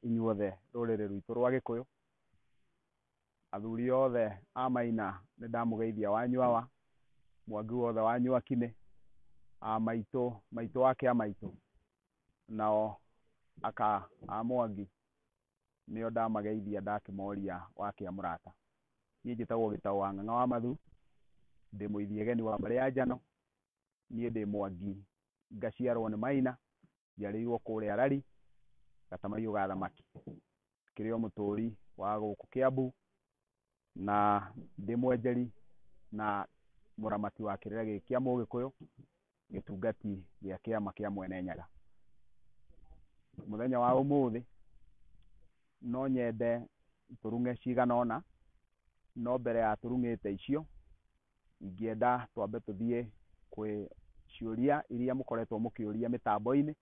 inyuothe rũrĩrĩ rwitũ rwa gĩkũyũ athuri othe a maina nĩ ndamũgeithia wanyu awa mwangi wothe wa nyuakinĩ a maitũ maitũ ake a maitũ nao aka a mwangi nĩo ndamageithia ndakĩmoria wakĩa mũrata. Niĩ njĩtagwo Gĩtaũ wa Ng'ang'a wa Mathu, ndĩ mũithiageni wa mbarĩ ya Njano, niĩ ndĩ Mwangi ngaciarwo nĩ Maina, njiarĩirwo kũrĩa Rari, Gatamaiyũ ga Thamaki. Ngĩrĩ o mũtũũri wa gũkũ Kĩambu, na ndĩ mwenjeri na mũramati wa kĩrĩra gĩkĩ kĩa Mũgĩkũyũ, gĩtungati gĩa kĩama kĩa Mwene Nyaga. Mũthenya wa ũmũthĩ, no nyende tũruge cigana ũna, no mbere ya tũrugĩte icio, ingĩenda twambe tũthiĩ kwĩ ciũria iria mũkoretwo mũkĩũria mĩtambo-inĩ.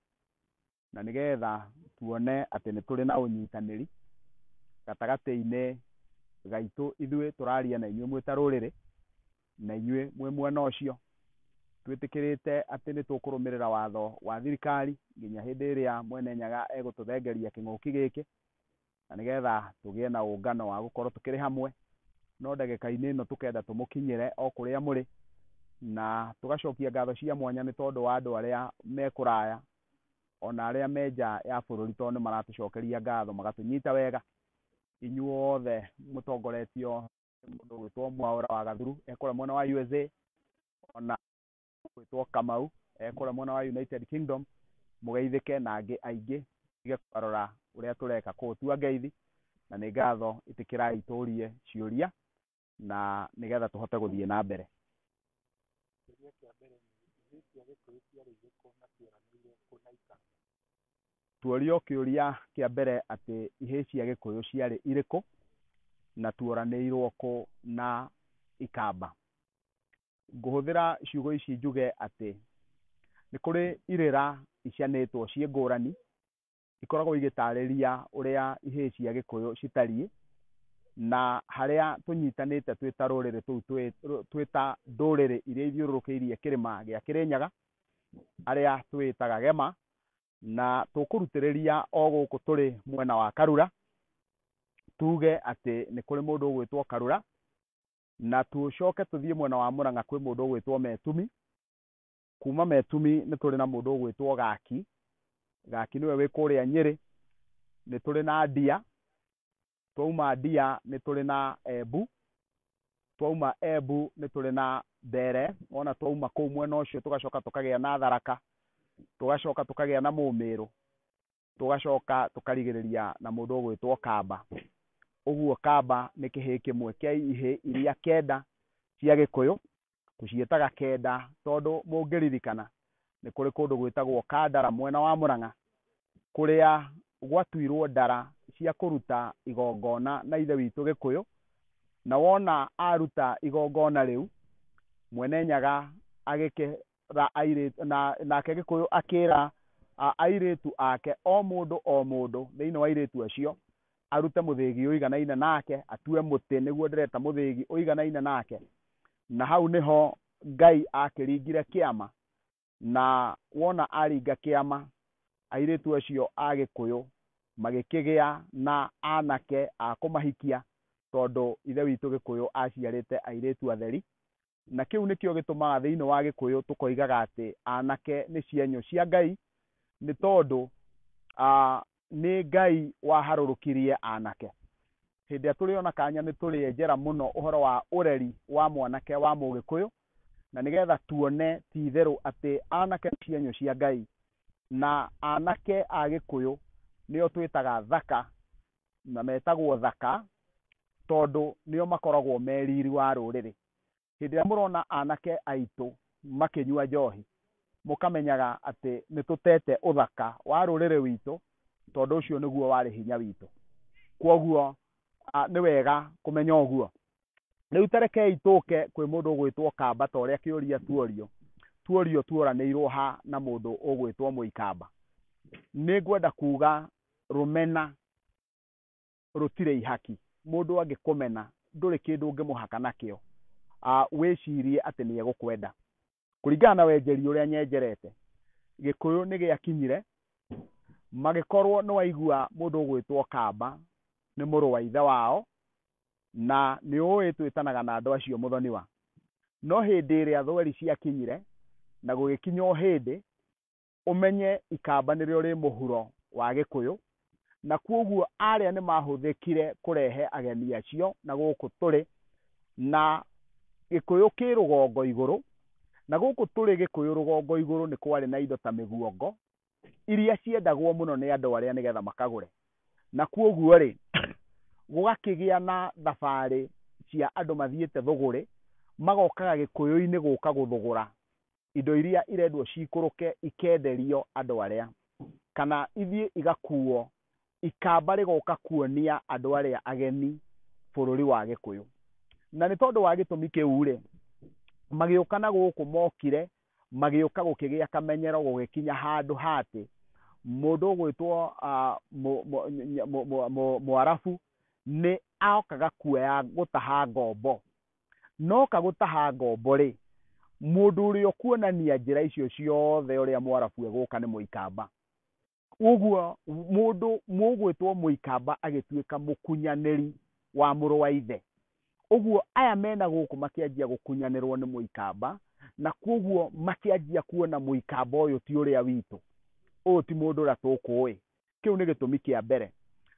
na nĩgetha tuone atĩ nĩ tũrĩ na ũnyitanĩri gatagatĩ-inĩ gaitũ ithuĩ tũraria na inyuĩ mwĩ ta rũrĩrĩ na inyuĩ mwĩ mwena ũcio. Twĩtĩkĩrĩte atĩ nĩ tũkũrũmĩrĩra watho wa thirikari nginya hĩndĩ ĩrĩa Mwene Nyaga egũtũthengeria kĩng'ũki gĩkĩ, na nĩgetha tũgĩe na ũngano wa gũkorwo tũkĩrĩ hamwe, no ndagĩka-inĩ ĩno tũkenda tũmũkinyĩre o kũrĩa mũrĩ, na tũgacokia ngatho cia mwanya nĩ tondũ wa andũ arĩa me kũraya, ona arĩa me nja ya bũrũri tondũ nĩ maratũcokeria ngatho magatũnyita wega, inyuothe mũtongoretio nĩ mũndũ ũgwĩtwo Mwaũra wa Gathuru e kũrĩa mwena wa USA, ona gwĩtwo Kamau eh, kũrĩa mwena wa United Kingdom mũgeithĩke na angĩ aingĩ tige kwarora ũrĩa tũreka kũu tua ngeithi na nĩ ngatho ĩtĩkĩrai tũrie ciũria na nĩgetha tũhote gũthiĩ na mbere Kĩũria kĩa mbere nĩ ithuĩ cia Gĩkũyũ ciarĩ irĩkũ na cieranĩire kũ na ikara? tuorio kĩũria kĩa mbere atĩ ihĩĩ cia gĩkũyũ ciarĩ irĩkũ na tuoranĩirwo kũ na ikamba ngũhũthĩra ciugo ici njuge atĩ nĩ kũrĩ irĩra icianĩtwo ciĩ ngũrani ikoragwo igĩtarĩria ũrĩa ihĩĩ cia gĩkũyũ citariĩ na harĩa tũnyitanĩte twĩ ta rũrĩrĩ tũu twĩ ta ndũrĩrĩ iria ithiũrũrũkĩirie kĩrĩma gĩa kĩrĩnyaga arĩa twĩtaga gema na tũkũrutĩrĩria o gũkũ tũrĩ mwena wa karura tuge atĩ nĩ kũrĩ mũndũ ũgwĩtwo karura na tũcoke tũthiĩ mwena wa Mũrang'a kwĩ mũndũ ũgwĩtwo Metumi, kuma Metumi nĩ tũrĩ na mũndũ ũgwĩtwo Gaki, Gaki nĩwe wĩ kũrĩa Nyĩrĩ, nĩ tũrĩ na Ndia, twauma Ndia nĩ tũrĩ na Embu, twauma Embu nĩ tũrĩ na Mbere, wona twauma kũu mwena ũcio tũgacoka tũkagĩa na Tharaka, tũgacoka tũkagĩa na Mũmĩrũ, tũgacoka tũkarigĩrĩria na mũndũ ũgwĩtwo kamba. Ũguo kamba nĩ kĩhĩĩ kĩmwe kĩa ihĩĩ iria kenda cia gĩkũyũ, tũciĩtaga kenda tondũ mũngĩririkana nĩ kũrĩ kũndũ gwĩtagwo Kandara mwena wa Mũrang'a, kũrĩa gwatuirwo ndara cia kũruta igongona na ithe witũ gĩkũyũ, na wona aruta igongona rĩu, mwene nyaga ra airĩtu, na, nake Gĩkũyũ akĩra a, airĩtu ake, o mũndũ o mũndũ thĩinĩ wa airĩtu acio arute mũthĩgi ũiganaine nake, atue mũtĩ, nĩguo ndĩreta mũthĩgi ũiganaine nake. Na hau nĩho Ngai aakĩringire kĩama, na wona aringa kĩama, airĩtu acio a Gĩkũyũ magĩkĩgĩa na anake a kũmahikia, tondũ Ithe witũ Gĩkũyũ aaciarĩte airĩtu atheri, Na kĩu nĩkĩo gĩtũmaga thĩinĩ wa Gĩkũyũ tũkoigaga atĩ anake nĩ cienyũ cia Ngai, nĩ tondũ nĩ Ngai waharũrũkirie anake. Hĩndĩ ĩrĩa tũrĩ ona kanya nĩ tũrĩenjera mũno ũhoro wa ũreri wa mwanake wa Mũgĩkũyũ, na nĩgetha tuone ti itherũ atĩ anake nĩ cienyũ cia Ngai, na anake a Gĩkũyũ nĩo twĩtaga thaka na metagwo thaka tondũ nĩo makoragwo me riri wa rũrĩrĩ. Hĩndĩ ĩrĩa mũrona anake aitũ makĩnyua njohi, mũkamenyaga atĩ nĩ tũtete ũthaka wa rũrĩrĩ witũ tondũ ũcio nĩguo warĩ hinya witũ. Kwoguo nĩ wega kũmenya ũguo. Rĩu ta rekei tũke kwĩ mũndũ ũgwĩtwo kamba ta ũrĩa kĩũria tuorio tuorio tuoranĩirwo ha na mũndũ ũgwĩtwo mũikamba nĩ ngwenda kuga rũmena rũtirĩ ihaki mũndũ angĩkũmena ndũrĩ kĩndũ ũngĩmũhaka nakĩo wĩcirie atĩ nĩ egũkwenda kũringana na wenjeri ũrĩa nyenjerete gĩkũyũ nĩ gĩakinyire magĩkorwo nĩ waigua mũndũ ũgwĩtwo kamba nĩ mũrũ wa ithe wao na nĩ ũĩ twĩtanaga na andũ acio mũthoniwa no hĩndĩ ĩrĩa thweri ciakinyire na gũgĩkinya o hĩndĩ ũmenye ikamba nĩrĩo rĩ mũhuro wa Gĩkũyũ, na kwoguo arĩa nĩ mahũthĩkire kũrehe ageni acio na gũkũ tũrĩ, na Gĩkũyũ kĩ rũgongo igũrũ, na gũkũ tũrĩ Gĩkũyũ rũgongo igũrũ nĩ kwarĩ na indo ta mĩguongo, iria ciendagwo mũno nĩ andũ arĩa nĩgetha makagũre, na kwoguo rĩ, gũgakĩgĩa na thabarĩ cia andũ mathiĩte thũgũrĩ, magokaga Gĩkũyũ-inĩ gũka gũthũgũra. indo iria irendwo ciikũrũke ikenderio andũ arĩa, kana ithiĩ igakuuo, ikamba rĩgoka kuonia andũ arĩa ageni bũrũri wa Gĩkũyũ. Na nĩ tondũ wa gĩtũmi kĩu-rĩ, magĩũka na gũkũ mokire, magĩũka gũkĩgĩa kamenyero gũgĩkinya handũ ha atĩ, mũndũ ũgwĩtwo Mũarabu nĩ okaga kuoya gũtaha ngombo noka gũtaha ngombo-rĩ, mũndũ ũrĩa ũkuonania njĩra icio ciothe ũrĩa Mũarabu egũka nĩ Mũikamba. Ũguo mũndũ mũgwĩtwo Mũikamba agĩtuĩka mũkunyanĩri wa mũrũ wa ithe. Ũguo aya mena gũkũ makĩanjia gũkunyanĩrwo nĩ Mũikamba, na kwoguo makĩanjia kuona Mũikamba ũyũ ti ũrĩa witũ, ũyũ ti mũndũ ũrĩa tũkũĩ, kĩu nĩ gĩtũmi kĩa mbere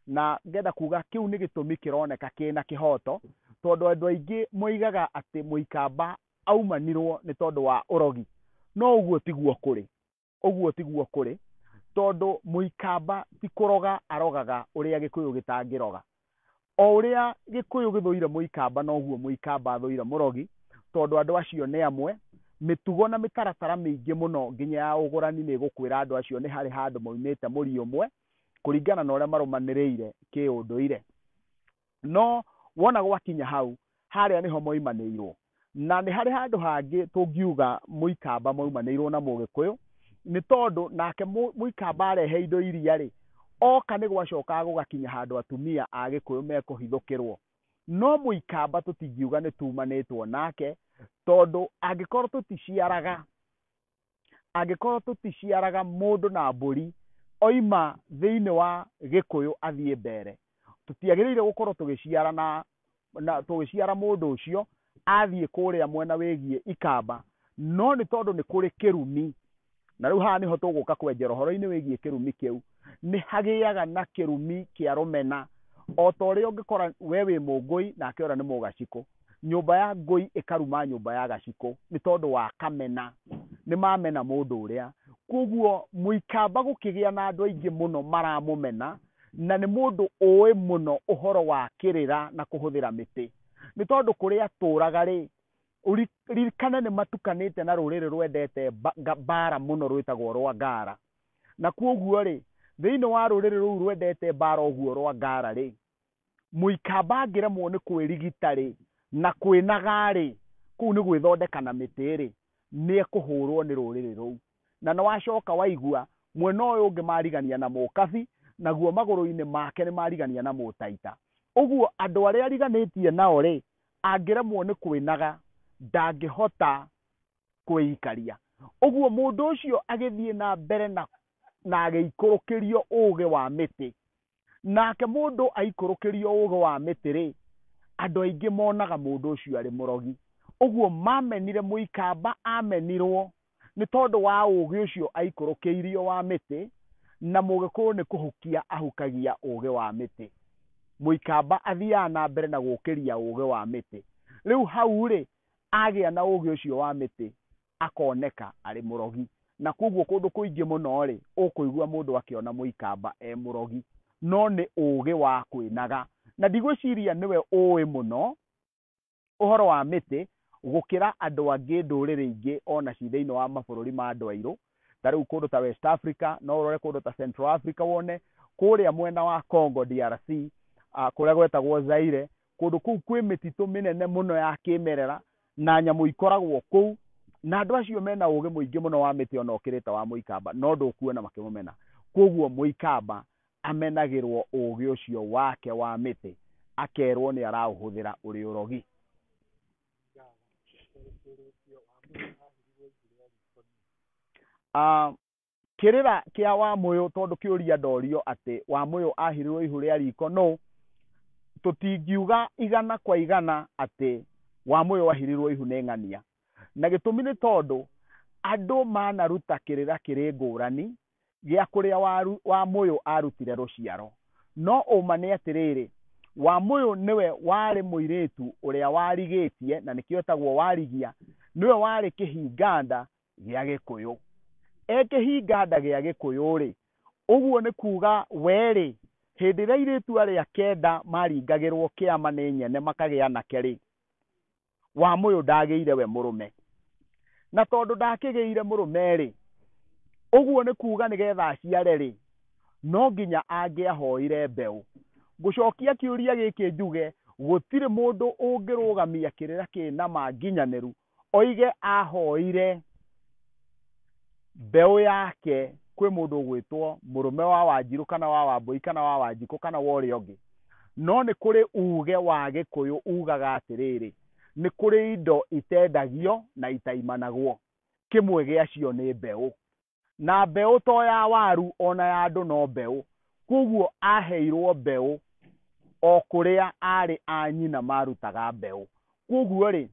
na ngenda kuga kĩu nĩ gĩtũmi kĩroneka kĩna kĩhoto tondũ andũ aingĩ moigaga atĩ mũikamba aumanirwo nĩ tondũ wa ũrogi no ũguo tiguo kũrĩ ũguo tiguo kũrĩ tondũ mũikamba ti kũroga arogaga ũrĩa gĩkũyũ gĩtangĩroga O ũrĩa Gĩkũyũ gĩthũire Mũikamba noguo Mũikamba athũire Mũrogi tondũ andũ acio nĩ amwe. Mĩtugo na mĩtaratara mĩingĩ mũno nginya ya ũgũrani nĩ ĩgũkwĩra andũ acio nĩ harĩ handũ moimĩte mũri ũmwe kũringana na ũrĩa marũmanĩrĩire kĩũndũire. No wona gwakinya hau Harĩa nĩho moimanĩirwo. Na nĩ harĩ handũ hangĩ tũngiuga Mũikamba moimanĩirwo na Mũgĩkũyũ, nĩ tondũ nake Mũikamba arehe indo iria-rĩ, oka nĩ gwacokaga gũgakinya handũ atumia a Gĩkũyũ mekũhithũkĩrwo. No Mũikamba tũtingiuga nĩ tumanĩtwo nake, tondũ angĩkorwo tũticiaraga, angĩkorwo tũticiaraga mũndũ na mbũri oima thĩinĩ wa gĩkũyũ athiĩ mbere tũtiagĩrĩire gũkorwo tũgĩciara na na tũgĩciara mũndũ ũcio athiĩ kũrĩa mwena wĩgiĩ ikamba no nĩ tondũ nĩ kũrĩ kĩrumi na rĩu haha nĩho tũgũka kwenjera ũhoro-inĩ wĩgiĩ kĩrumi kĩu nĩ hagĩaga na kĩrumi kĩa rũmena o ta ũrĩa ũngĩkora we wĩ mũngũi nake ũrĩa nĩ mũgacikũ nyũmba ya ngũi ĩkaruma nyũmba ya gacikũ nĩ tondũ wa kamena nĩ mamena mũndũ ũrĩa koguo mũikamba gũkĩgĩa na andũ aingĩ mũno maramũmena na nĩ mũndũ ũĩ mũno ũhoro wa kĩrĩra na kũhũthĩra mĩtĩ nĩ tondũ kũrĩa atũraga rĩ ririkane nĩ matukanĩte na rũrĩrĩ rwendete mbara mũno rwĩtagwo rwa ngara Na kwoguo-rĩ, thĩinĩ wa rũrĩrĩ rũu rwendete mbaara ũguo rwa Ngara-rĩ, Mũikamba angĩremwo nĩ kwĩrigita-rĩ, na kwĩnaga-rĩ, kũu nĩ gwĩthondeka na mĩtĩ-rĩ, nĩekũhũũrwo nĩ rũrĩrĩ rũu. Na nĩwacoka waigua, mwena ũyũ ũngĩ marigania na Mũkabi, naguo magũrũ-inĩ make nĩmarigania na Mũtaita. Ũguo andũ arĩa ariganĩtie nao-rĩ, angĩremwo nĩ kwĩnaga, ndangĩhota kwĩikaria. Ũguo mũndũ ũcio agĩthiĩ na mbere na, na agĩikũrũkĩrio ũũgĩ wa mĩtĩ. Nake mũndũ aikũrũkĩrio ũũgĩ wa mĩtĩ-rĩ, andũ aingĩ monaga mũndũ ũcio arĩ mũrogi. Ũguo mamenire, mũikamba amenirwo nĩ tondũ wa ũũgĩ ũcio aikũrũkĩirio wa mĩtĩ, na Mũgĩkũyũ nĩ kũhukia ahukagia ũũgĩ wa mĩtĩ. Mũikamba athiaga na mbere na gũũkĩria ũũgĩ wa mĩtĩ. Rĩu hau-rĩ, agĩa na ũũgĩ ũcio wa mĩtĩ, akoneka arĩ mũrogi. Na kwoguo kũndũ kũingĩ mũno-rĩ, ũkũigua mũndũ akĩona Mũikamba e mũrogi. No nĩ ũũgĩ wa kwĩnaga. Na ndigwĩciria nĩwe ũũĩ mũno ũhoro wa mĩtĩ gũkĩra andũ angĩ, ndũrĩrĩ ingĩ o na ci thĩinĩ wa mabũrũri ma andũ airũ. Ta rĩu kũndũ ta West Africa, no ũrore kũndũ ta Central Africa wone, kũrĩa mwena wa Congo DRC, kũrĩa gwetagwo Zaire, Kũndũ kũu kwĩ mĩtitũ mĩnene mũno ya kĩmerera na nyamũ ikoragwo kũu, na andũ acio me na ũũgĩ mũingĩ mũno wa mĩtĩ o na ũkĩrĩ ta wa Mũikamba, no ndũkuona makĩmũmena. Kwoguo Mũikamba amenagĩrũo ũũgĩ ũcio wake wa mĩtĩ, akerũo nĩ araũhũthĩra ũrĩ ũrogi. Java, Ũrĩ Kĩrĩĩtio wa Musa Aahĩrirũo Ibuku rĩa Riboni? Kĩrĩra kĩa Wamũyũ tondũ kĩũria ndorio atĩ Wamũyũ ahirirwo ihu rĩa riko nũ, tũtingiuga igana kwa igana atĩ Wamũyũ ahirirwo ihu nĩ ng'ania. Na gĩtũmi nĩ tondũ andũ manaruta kĩrĩra kĩrĩ ngũrani gĩa kũrĩa Wamũyũ arutire rũciaro. No ũma nĩ atĩrĩrĩ, Wamũyũ nĩwe warĩ mũirĩtu ũrĩa warigĩtie na nĩkĩo etagwo Warigia, nĩwe warĩ kĩhinganda gĩa gĩkũyũ ekĩhinganda gĩa gĩkũyũ rĩ ũguo nĩ kuga we rĩ hĩndĩ ĩrĩa irĩtu arĩa kenda maringagĩrwo kĩama nĩ nyene makagĩa anake rĩ wa mũyũ ndagĩire we mũrũme na tondũ ndakĩgĩire mũrũme rĩ ũguo nĩ kuga nĩgetha aciare rĩ no nginya angĩahoire mbeũ ngũcokia kĩũria gĩkĩ njuge gũtirĩ mũndũ ũngĩrũgamia kĩrĩra kĩna ma nginyanĩru oige ahoire mbeũ yake kwĩ mũndũ ũgwĩtwo mũrũme wa wanjirũ kana wa wambũi kana wa wanjikũ kana wa ũrĩa ũngĩ no nĩ kũrĩ uge wa gĩkũyũ ugaga atĩrĩrĩ nĩ kũrĩ indo itendagio na itaimanagwo kĩmwe gĩacio nĩ mbeũ Na mbeũ to ya waru, o na ya andũ no mbeũ. Kwoguo aaheirũo mbeũ o kũrĩa aarĩ a nyina maarutaga mbeũ. Kwoguo-rĩ,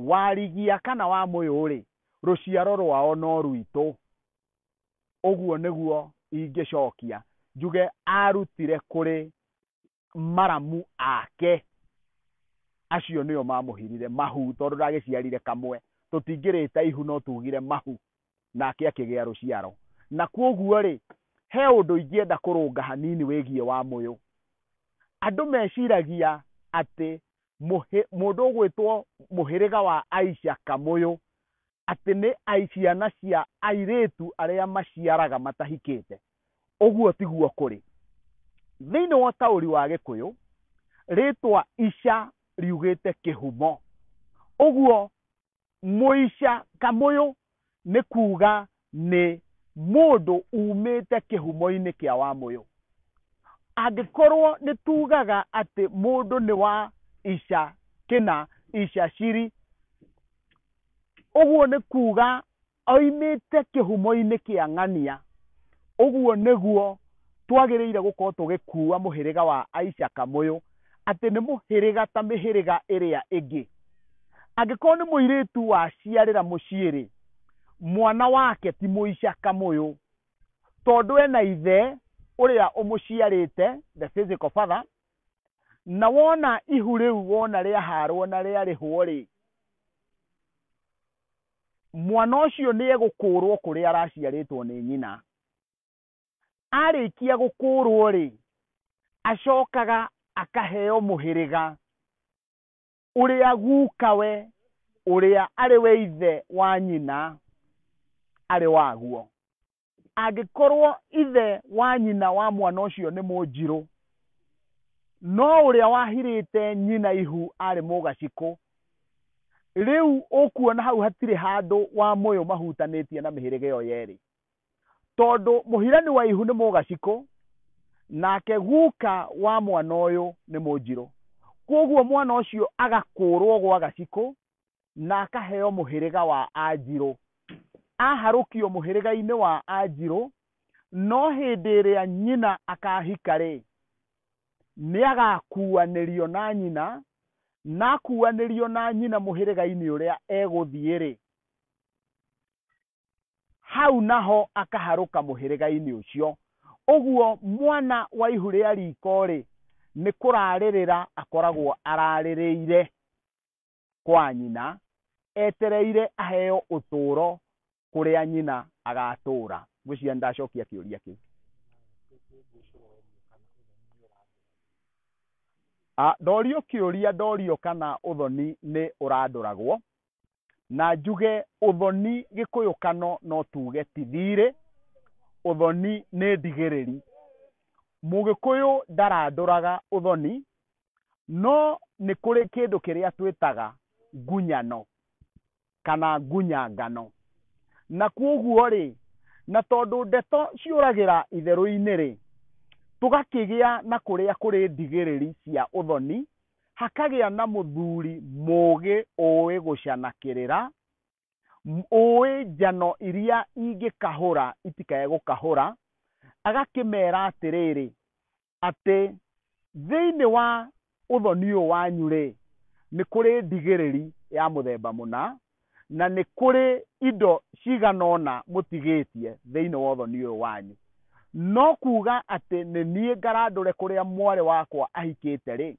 warigia kana wa mũyũ-rĩ, rũciaro rwao no rwitũ. Ũguo nĩguo ingĩcokia, njuge aarutire kũrĩ maramu ake acio nĩo mamũhirire mahu tondũ ndagĩciarire kamwe tũtingĩrĩte ihu no tugire mahu nake akĩgĩa rũciaro na kwoguo rĩ he ũndũ ingĩenda kũrũnga hanini wĩgiĩ wa mũyũ andũ meciragia atĩ mũhĩ- mũndũ ũgwĩtwo mũhĩrĩga wa aica kamũyũ atĩ nĩ ai- ciana cia airĩtu arĩa maciaraga matahikĩte ũguo tiguo kũrĩ thĩinĩ wa ũtaũri wa gĩkũyũ rĩtwa ica riugĩte kĩhumo ũguo mũica kamũyũ nĩ kuuga nĩ mũndũ umĩte kĩhumo-inĩ kĩa wamũyũ angĩkorwo nĩ tugaga atĩ mũndũ nĩ wa ica kĩna ica ciri ũguo nĩ kuuga Oimĩte kĩhumo-inĩ kĩa ng'ania. Ũguo nĩguo twagĩrĩire gũkorũo tũgĩkuua mũhĩrĩga wa Aisha-Kamũyũ, atĩ nĩ mũhĩrĩga ta mĩhĩrĩga ĩrĩa ĩngĩ. Angĩkorũo nĩ mũirĩtu waciarĩra mũciĩ-rĩ, mwana wake ti Mũisha-Kamũyũ, tondũ ena ithe ũrĩa ũmũciarĩte, the physical father, na wona ihu rĩu wona rĩahaarũo na rĩarĩhũo-rĩ, mwana ũcio nĩ egũkũũrwo kũrĩa araciarĩtwo nĩ nyina arĩkia gũkũũrwo rĩ acokaga akaheo mũhĩrĩga ũrĩa gukawe ũrĩa arĩ we ithe wa nyina arĩ waguo Angĩkorwo ithe wa nyina wa mwana ũcio nĩ Mũnjirũ, no ũrĩa wahirĩte nyina ihu arĩ Mũgacikũ, rĩu ũkuona hau hatirĩ handũ Wamũyũ mahutanĩtie na mĩhĩrĩga ĩyo yerĩ. Tondũ mũhirani wa ihu nĩ Mũgacikũ, nake guka wa mwana ũyũ nĩ Mũnjirũ. Kwoguo mwana ũcio agakũũrwo gwa Gacikũ na akaheo mũhĩrĩga wa Anjirũ. Aharũkio mũhĩrĩga-inĩ wa Anjirũ, no hĩndĩ ĩrĩa nyina akahika-rĩ, nĩagakuanĩrio na nyina, na akuanĩrio na nyina mũhĩrĩga-inĩ ũrĩa egũthiĩ-rĩ, hau naho akaharũka mũhĩrĩga-inĩ ũcio. Ũguo mwana wa ihu rĩa riko-rĩ, nĩ kũrarĩrĩra akoragwo ararĩrĩire. kwa nyina, etereire aheo ũtũũro kũrĩa nyina agatũũra. Ngwĩciria nĩ ndacokia kĩũria kĩu. Ah, Ndorio kĩũria ndorio kana ũthoni nĩ ũrandũragwo, na njuge ũthoni gĩkũyũkano no tuge ti thiirĩ, ũthoni nĩ ndigĩrĩri. Mũgĩkũyũ ndarandũraga ũthoni, No nĩ kũrĩ kĩndũ kĩrĩa twĩtaga ngunyano kana ngunyangano. Na kwoguo rĩ, na tondũ ndeto ciũragĩra itherũ-inĩ rĩ, tũgakĩgĩa na kũrĩa kũrĩ ndigĩrĩri cia ũthoni, hakagĩa na mũthuri mũgĩ ũĩ gũcanakĩrĩra, ũĩ njano iria ingĩkahũra itikae gũkahũra, agakĩmera atĩrĩrĩ, atĩ thĩinĩ wa ũthoni ũyũ wanyu-rĩ, nĩ kũrĩ ndigĩrĩri ya mũthemba mũna, na nĩ kũrĩ indo cigana ũna mũtigĩtie thĩinĩ wa ũthoni ũyũ wanyu. No kuuga atĩ nĩ niĩ ngarandũre kũrĩa mwarĩ wakwa ahikĩte-rĩ,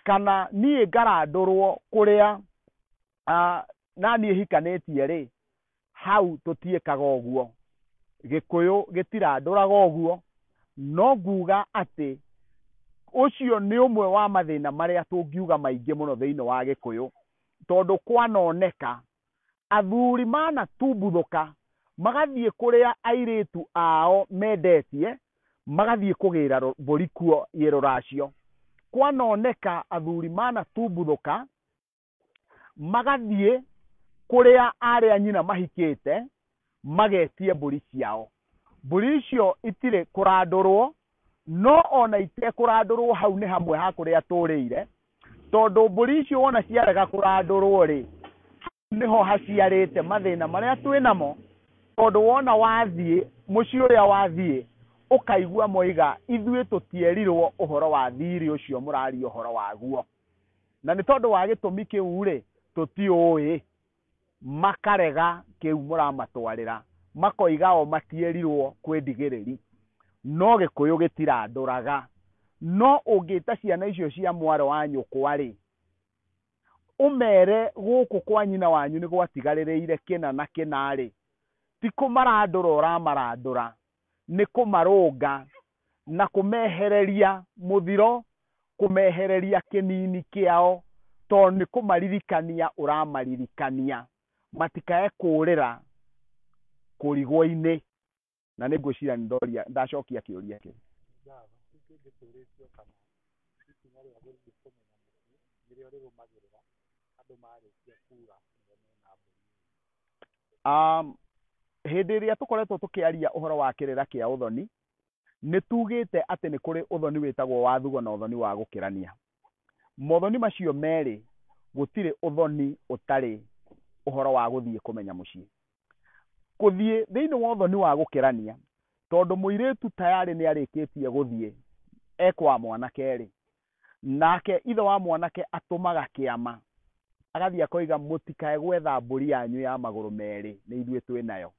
kana niĩ ngarandũrwo kũrĩa ah, na niĩ hikanĩtie rĩ hau tũtiĩkaga ũguo gĩkũyũ gĩtirandũraga ũguo no nguga atĩ ũcio nĩ ũmwe wa mathĩna marĩa tũngiuga maingĩ mũno thĩinĩ wa gĩkũyũ tondũ kwanoneka athuri manatumbũthũka magathiĩ kũrĩa airĩtu ao mendetie magathiĩ kũgĩra rũ- mbũri kuo yĩ rũracio kwanoneka athuri manatumbũthũka magathiĩ kũrĩa arĩa nyina mahikĩte magetie mbũri ciao mbũri icio itirĩ kũrandũrwo no ona itekũrandũrwo hau nĩ hamwe ha kũrĩa tũrĩire tondũ mbũri icio wona ciarega kũrandũrwo rĩ nĩho haciarĩte mathĩna marĩa twĩ namo tondũ wona wathiĩ mũciĩ ũrĩa wathiĩ ũkaigua moiga ithuĩ tũtierirwo ũhoro wa thirĩ ũcio mũraria ũhoro waguo na nĩ tondũ wa gĩtũmi kĩu-rĩ, tũtiũĩ, makarega kĩu mũramatwarĩra, makoiga o matierirwo kwĩ ndigĩrĩri, no gĩkũyũ gĩtirandũraga, no ũngĩta ciana icio cia mwarĩ wa nyũkwa-rĩ, ũmere gũkũ kwa nyina wanyu nĩ gwatigarĩrĩire kĩna na kĩna-rĩ, ti kũmarandũra ũramarandũra, nĩ kũmarũnga na kũmehereria mũthiro, kũmehereria kĩnini kĩao, tondũ nĩ kũmaririkania ũramaririkania, matikae kũũrĩra kũrigwo-inĩ. Na nĩ ngwĩciria nĩ ndoria, nĩ ndacokia kĩũria kĩu. Java, kĩu kĩngĩ tũũrĩtio kana ikinya rĩa gũthiĩ kũmenya mũciĩ nĩrĩo rĩrũmagĩrĩra andũ marĩkia kuura ũrĩa mena mbũri. Um, hĩndĩ ĩrĩa tũkoretwo tũkĩaria ũhoro wa kĩrĩra kĩa ũthoni nĩ tugĩte atĩ nĩ kũrĩ ũthoni wĩtagwo wa thugo na ũthoni wa gũkĩrania mothoni macio merĩ gũtirĩ ũthoni ũtarĩ ũhoro wa gũthiĩ kũmenya mũciĩ gũthiĩ thĩinĩ wa ũthoni wa gũkĩrania tondũ mũirĩtu tayarĩ nĩ arĩkĩtie gũthiĩ ekwa mwanake rĩ Nake ithe wa mwanake atũmaga kĩama, agathiĩ akoiga, mũtikae gwetha mbũri yanyu ya magũrũ merĩ, nĩ ithuĩ twĩ nayo.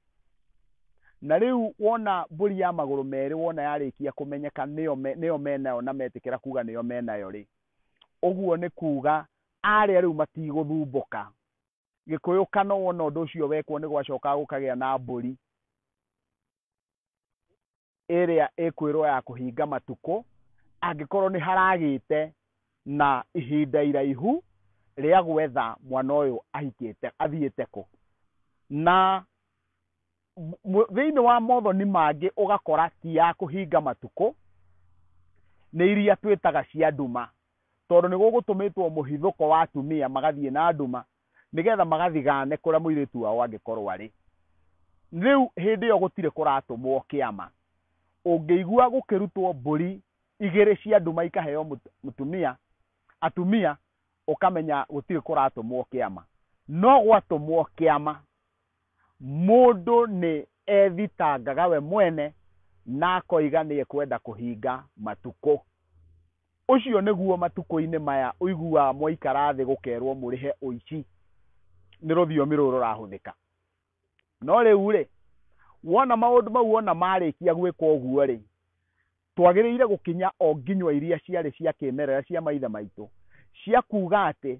Na rĩu wona mbũri ya magũrũ merĩ, wona yarĩkia kũmenyeka nĩyo me, nĩyo me nayo na metĩkĩra kuga nĩyo me nayo rĩ, ũguo nĩ kuga arĩa rĩu matigũthumbũka. Gĩkũyũ kano wona ũndũ ũcio wekwo nĩ gwacokaga gũkagĩa na mbũri. ĩrĩa ĩkwĩrwo ya kũhinga matukũ angĩkorwo nĩ haragĩte na ihinda iraihu rĩa gwetha mwana ũyũ ahikĩte athiĩte kũ na thĩinĩ wa mothoni mangĩ ũgakora ti ya kũhinga matukũ nĩ iria twĩtaga cia nduma tondũ nĩ gũgũtũmĩtwo mũhithũko wa atumia magathiĩ na nduma nĩgetha magathigaane kũrĩa mũirĩtu wao angĩkorwo arĩ. Rĩu hĩndĩ ĩyo gũtirĩ kũratũmwo kĩama. Ũngĩigua gũkĩrutwo mbũri igĩrĩ cia nduma ikaheo mũtumia, atumia, ũkamenya gũtirĩ kũratũmwo kĩama. No gwatũmwo kĩama, mũndũ nĩ ethitangaga we mwene na akoiga nĩ ekwenda kũhinga matukũ. Ũcio nĩguo matukũ-inĩ maya ũiguaga mwaikara thĩ gũkerwo mũrĩhe ũici. Nĩ rũthiomi rũu rũrahũthĩka. No rĩu-rĩ, wona maũndũ mau wona marĩkia gwĩkwo ũguo-rĩ, twagĩrĩire gũkinya o nginywa iria ciarĩ cia kĩmerera cia maithe maitũ cia kuuga atĩ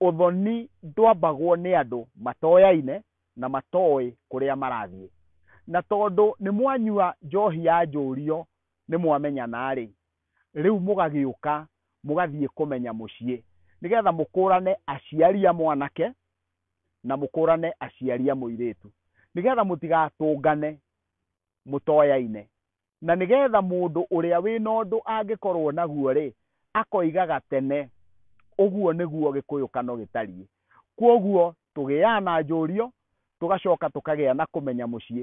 ũthoni ndwambagwo nĩ andũ matoyaine na matoĩ kũrĩa marathiĩ. Na tondũ nĩ mwanyua njohi ya njũrio nĩ mwamenyana-rĩ, Rĩu mũgagĩũka mũgathiĩ kũmenya mũciĩ, nĩgetha mũkũũrane aciari a mwanake na mũkũũrane aciari a mũirĩtu, nĩgetha mũtigatũngane mũtoyaine, na nĩgetha mũndũ ũrĩa wĩ na ũndũ angĩkorũo naguo-rĩ, akoigaga tene, 'Ũguo nĩguo gĩkũyũkano gĩtariĩ. Kwoguo tũgĩaga na njũũrio, tũgacoka tũkagĩa na kũmenya mũciĩ.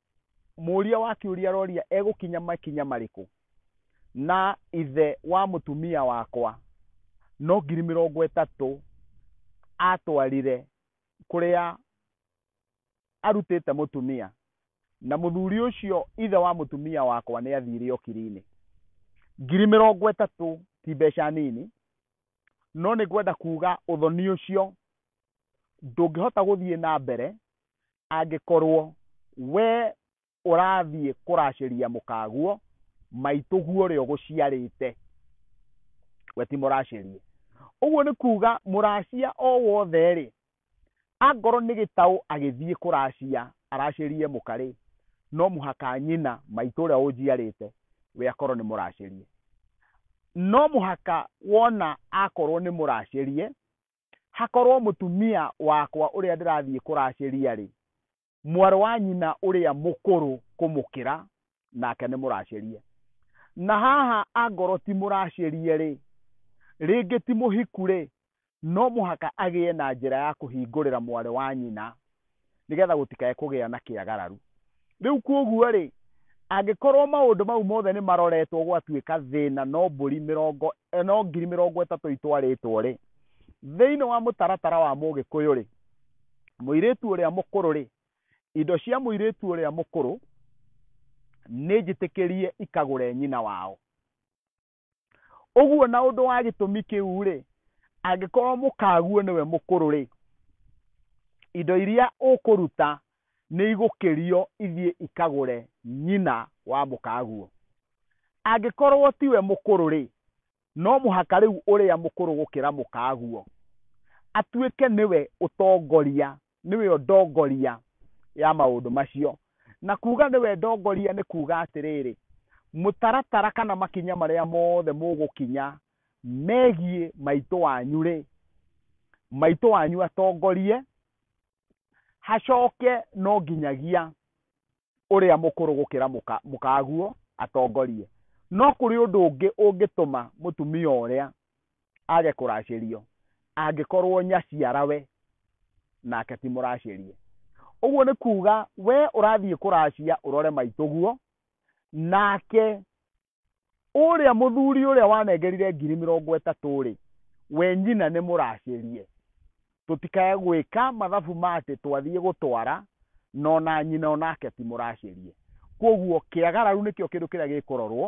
mũũria wa kĩũria aroria egũkinya makinya marĩkũ na ithe wa mũtumia wakwa no ngiri mĩrongo ĩtatũ atwarire kũrĩa arutĩte mũtumia na mũthuri ũcio ithe wa mũtumia wakwa nĩ athire okiri-inĩ ngiri mĩrongo ĩtatũ ti mbeca nini no nĩ ngwenda kuga ũthoni ũcio ndũngĩhota gũthiĩ na mbere angĩkorwo we ũrathiĩ kũracĩria mũkaguo maitũguo ũrĩa ũgũciarĩte we ti mũracĩrie ũguo nĩ kuga mũracia o wothe rĩ angorwo nĩ gĩtaũ agĩthiĩ kũracia aracĩrie mũka rĩ no mũhaka nyina maitũ ũrĩa ũnjiarĩte we akorwo nĩ mũracĩrie no mũhaka wona akorwo nĩ mũracĩrie hakorwo mũtumia wakwa ũrĩa ndĩrathiĩ kũracĩria-rĩ, mwarĩ wa nyina ũrĩa mũkũrũ kũmũkĩra, nake nĩ mũracĩrie. Na haha angorwo ti mũracĩrie-rĩ, rĩngĩ ti mũhiku-rĩ, no mũhaka agĩe na njĩra ya kũhingũrĩra mwarĩ wa nyina nĩgetha gũtikae kũgĩa na kĩagararu. Rĩu kwoguo-rĩ, angĩkorwo maũndũ mau mothe nĩ maroretwo gwatuĩka thĩna no mbũri mĩrongo, no ngiri mĩrongo ĩtatũ itwarĩtwo-rĩ, thĩinĩ wa mũtaratara wa Mũgĩkũyũ-rĩ, mũirĩtu ũrĩa mũkũrũ-rĩ, indo cia mũirĩtu ũrĩa mũkũrũ nĩ njĩtĩkĩrie ikagũre nyina wao. ũguo na ũndũ wa gĩtũmi kĩu rĩ angĩkorwo mũkaguo nĩwe mũkũrũ rĩ indo iria ũkũruta nĩ igũkĩrio ithiĩ ikagũre nyina wa mũkaguo angĩkorwo tiwe mũkũrũ rĩ no mũhaka rĩu ũrĩa mũkũrũ gũkĩra mũkaguo atuĩke nĩwe ũtongoria nĩwe o ndongoria ya maũndũ macio na kuga nĩwe ndongoria nĩ kuga atĩrĩrĩ mũtaratara kana makinya marĩa mothe mũgũkinya megiĩ maitũ wanyu rĩ maitũ wanyu atongorie hacoke no nginyagia ũrĩa mũkũrũ gũkĩra mũka, mũkaguo atongorie. No kũrĩ ũndũ ũngĩ ũngĩtũma mũtumia ũrĩa age kũracĩrio angĩkorwo nyaciara we nake ti mũracĩrie. Ũguo nĩ kuuga we ũrathiĩ kũracia ũrore maitũguo, nake ũrĩa mũthuri ũrĩa wanengerire ngiri mĩrongo ĩtatũ-rĩ we nyina nĩ mũracĩrie tũtikae gwĩka mathabu ma atĩ twathiĩ gũtwara na ona nyina onake ti mũracĩrie kwoguo kĩagararu nĩkĩo kĩndũ kĩrĩa gĩkũrorwo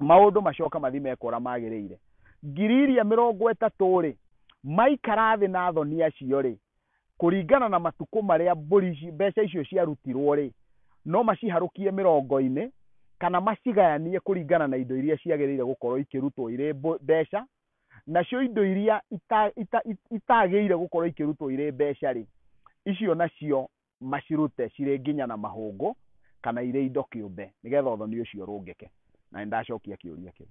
maũndũ macoka mathi mekora magĩrĩire ngiri iria mĩrongo ĩtatũ-rĩ maikara thĩ na thoni acio-rĩ kũringana na matukũ marĩa mbũri ici, mbeca icio ciarutirwo rĩ, no maciharũkie mĩrongo-inĩ kana macigayanie kũringana na indo iria ciagĩrĩire gũkorwo ikĩrutwo irĩ mbũ- mbeca, nacio indo iria ita- ita- it- itagĩrĩire gũkorwo ikĩrutwo irĩ mbeca rĩ, icio nacio macirute cirĩ nginya na mahũngũ kana irĩ indo kĩũmbe, nĩgetha ũthoni ũcio ũrũngĩke. Na nĩ ndacokia kĩũria kĩu.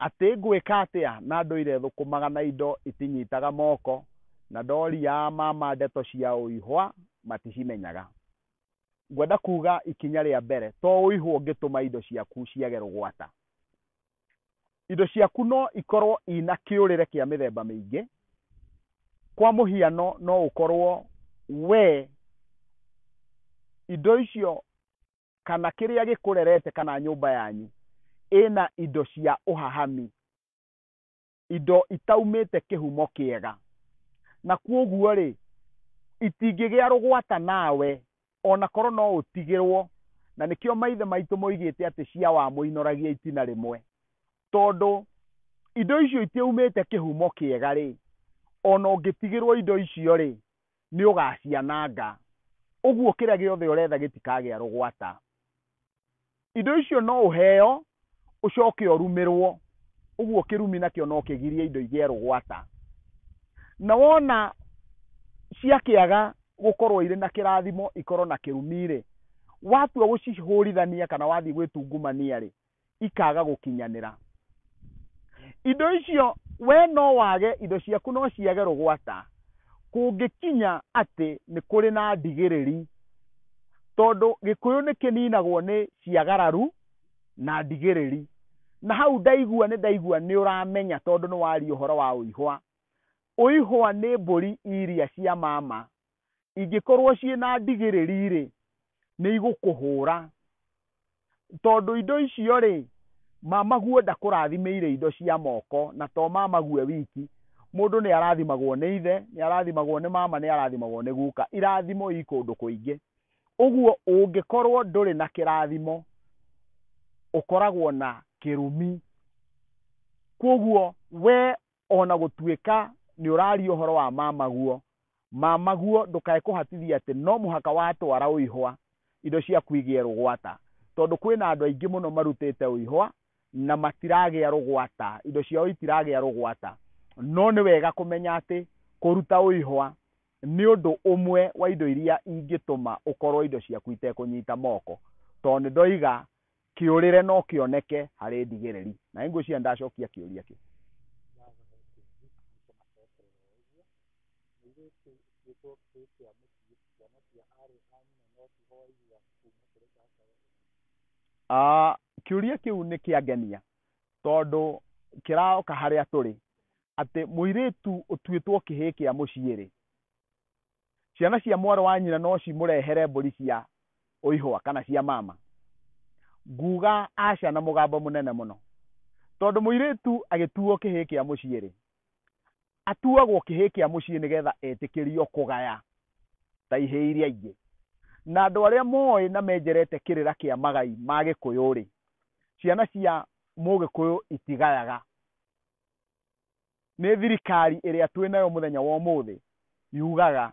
Atĩ ngwĩka atĩa na ndũire thũkũmaga na indo itinyitaga moko, na ndoria mama ndeto cia ũihwa maticimenyaga. Ngwenda kuuga ikinya rĩa mbere to ũihwa ũngĩtũma indo ciaku ciage rũgwata. indo ciaku no ikorwo ina kĩũrĩre kĩa mĩthemba mĩingĩ kwa mũhiano no ũkorwo we indo icio kana kĩrĩa gĩkũrerete kana nyũmba yanyu ĩna indo cia ũhahami indo itaumĩte kĩhumo kĩega na kwoguo rĩ itingĩgĩa rũgwata nawe ona korwo no ũtigĩrwo na nĩkĩo maithe maitũ moigĩte atĩ cia wa mũinoragia itina rĩmwe tondũ indo icio itiumĩte kĩhumo kĩega rĩ ona ũngĩtigĩrwo indo icio rĩ nĩ ũgaciananga ũguo kĩrĩa gĩothe ũretha gĩtikagĩa rũgwata indo icio no ũheo ũcoke ũrumĩrwo ũguo kĩrumi nakĩo no kĩgirie indo igĩe rũgwata na wona ciakĩaga gũkorwo irĩ na kĩrathimo ikorwo na kĩrumi rĩ watua gũcihũrithania kana wathiĩ gwĩtungumania rĩ ikaga gũkinyanĩra indo icio we no wage indo ciaku no ciage rũgwata kũngĩkinya atĩ nĩ kũrĩ na ndigĩrĩri tondũ gĩkũyũ nĩ kĩninagwo nĩ ciagararu na ndigĩrĩri na hau ndaigua nĩ ndaigua nĩ ũramenya tondũ nĩ waria ũhoro wa ũihwa ũihwa nĩ mbũri iria cia mama ingĩkorwo ciĩ na ndigĩrĩri-rĩ, nĩ igũkũhũra. Tondũ indo icio-rĩ, mamaguo ndakũrathimĩire indo cia moko, na to mamaguo e wiki, mũndũ nĩ arathimagwo nĩ ithe, nĩ arathimagwo nĩ mama, nĩ arathimagwo nĩ guka. Irathimo i kũndũ kũingĩ. Ũguo ũngĩkorwo ndũrĩ na kĩrathimo, ũkoragwo na kĩrumi. Kwoguo we ona gũtuĩka nĩ ũraria ũhoro wa mamaguo mamaguo ndũkae kũhatithia atĩ no mũhaka watwara ũihwa indo ciaku igĩe rũgwata tondũ kwĩna andũ aingĩ mũno marutĩte ũihwa na matiragĩa rũgwata indo ciao itiragĩa rũgwata no nĩ wega kũmenya atĩ kũruta ũihwa nĩ ũndũ ũmwe wa indo iria ingĩtũma ũkorwo indo ciaku itekũnyita moko tondũ nĩ ndoiga Kĩũrĩre no kĩoneke harĩ ndigĩrĩri. Na nĩngwĩciria nĩndacokia kĩũria kĩu. Ah, kĩũria kĩu nĩ kĩangenia tondũ kĩraoka harĩa tũrĩ atĩ mũirĩtu ũtuĩtwo kĩhĩĩ kĩa mũciĩ-rĩ Ciana cia mwarĩ wa nyina no cimũrehere mbũri cia ũihũa kana cia mama. Nguuga aca na mũgambo mũnene mũno. Tondũ mũirĩtu agĩtuuo kĩhĩĩ kĩa mũciĩ-rĩ, atuagwo kĩhĩĩ kĩa mũciĩ nĩgetha etĩkĩrio kũgaya ta ihĩĩ iria ingĩ. Na andũ arĩa moĩ na menjerete kĩrĩra kĩa magai ma Gĩkũyũ-rĩ, ciana cia Mũgĩkũyũ itigayaga. Nĩ thirikari ĩrĩa twĩ nayo mũthenya wa ũmũthĩ yugaga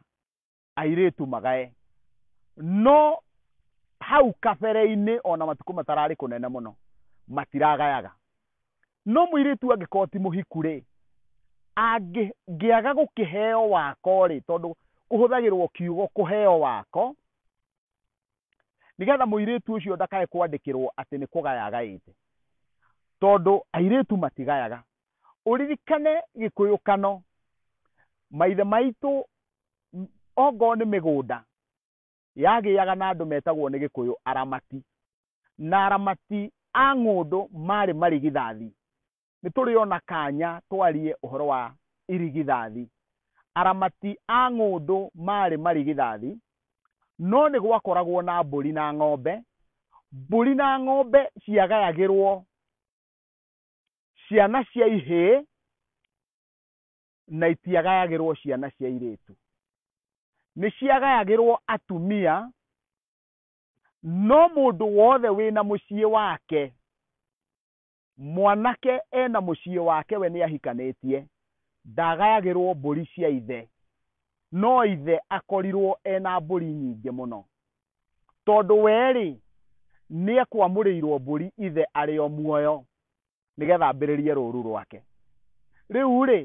airĩtu magae. No hau kabere-inĩ ona matukũ matararĩ kũnene mũno matiragayaga. No mũirĩtu angĩkorwo ti mũhiku rĩ, angĩaga gũkĩheo wako rĩ, tondũ kũhũthagĩrwo kiugo kũheo wako, nĩgetha mũirĩtu ũcio ndakae kwandĩkĩrwo atĩ nĩ kũgaya agaĩte. Tondũ airĩtu matigayaga, ũririkane gĩkũyũkano maithe maitũ ongoo nĩ mĩgũnda yagĩaga na andũ metagwo nĩ gĩkũyũ aramati na aramati a ng'ũndũ marĩ marigithathi nĩ tũrĩ ona kanya twarie ũhoro wa irigithathi aramati a ng'ũndũ marĩ marigithathi no nĩ gwakoragwo na mbũri na ng'ombe mbũri na ng'ombe ciagayagĩrwo ciana cia ihĩĩ na itiagayagĩrwo ciana cia irĩtu nĩ ciagayagĩrwo atumia no mũndũ wothe wĩna mũciĩ wake mwanake ena mũciĩ wake we nĩ ahikanĩtie ndagayagĩrwo mbũri cia ithe no ithe akorirwo ena mbũri nyingĩ mũno tondũ we-rĩ, nĩekwamũrĩirwo mbũri ithe arĩ o muoyo, nĩgetha ambĩrĩrie rũũru rwake. Rĩu-rĩ,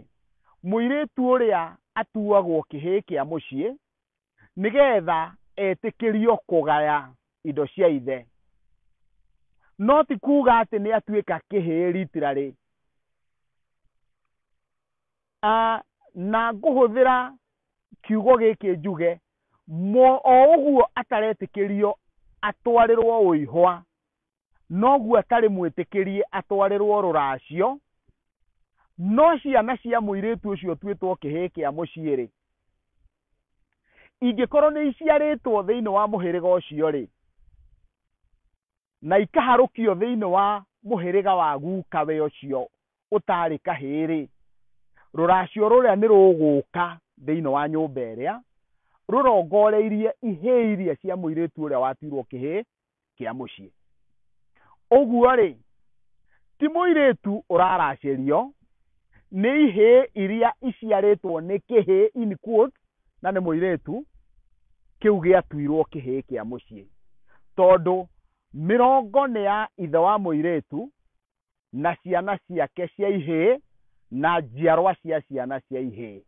mũirĩtu ũrĩa atuagwo kĩhĩĩ kĩa mũciĩ, nĩgetha etĩkĩrio kũgaya indo cia ithe. No ti kuuga atĩ nĩatuĩka kĩhĩĩ ritirarĩ. Ah, na ngũhũthĩra kiugo gĩkĩ njuge mo o ũguo ataretĩkĩrio atwarĩrwo ũihwa noguo atarĩ mwĩtĩkĩrie atwarĩrwo rũracio no ciana cia mũirĩtu ũcio tuĩtwo kĩhĩĩ kĩa mũciĩ-rĩ ingĩkorwo nĩ iciarĩtwo thĩinĩ wa mũhĩrĩga ũcio-rĩ na ikaharũkio thĩinĩ wa mũhĩrĩga wa gukawe ũcio ũtaarĩ kahĩĩ-rĩ, rũracio rũrĩa nĩ rũgũka thĩinĩ wa nyũmba ĩrĩa rũrongoreirie ihĩĩ iria cia mũirĩtu ũrĩa watuirwo kĩhĩĩ kĩa mũciĩ. Ũguo-rĩ, ti mũirĩtu ũraracĩrio, nĩ ihĩĩ iria iciarĩtwo nĩ kĩhĩĩ in quotes, na nĩ mũirĩtu, kĩu gĩatuirwo kĩhĩĩ kĩa mũciĩ. Tondũ mĩrongo nĩ ya ithe wa mũirĩtu, na ciana ciake cia ihĩĩ na njiarwa cia ciana cia ihĩĩ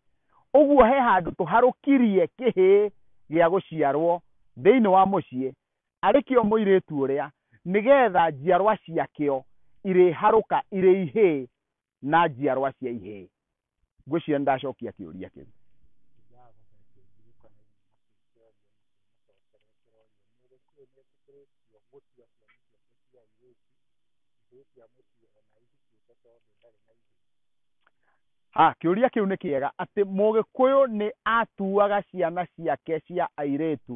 ũguo he handũ tũharũkirie kĩhĩĩ gĩa gũciarwo thĩinĩ wa mũciĩ arĩ kĩo mũirĩtu ũrĩa nĩgetha njiarwa ciakĩo irĩharũka irĩ ihĩĩ na njiarwa cia ihĩĩ ngwĩciria nĩ ndacokia kĩũria kĩu Ah, kĩũria kĩu nĩ kĩega atĩ mũgĩkũyũ nĩ atuaga ciana ciake cia airĩtu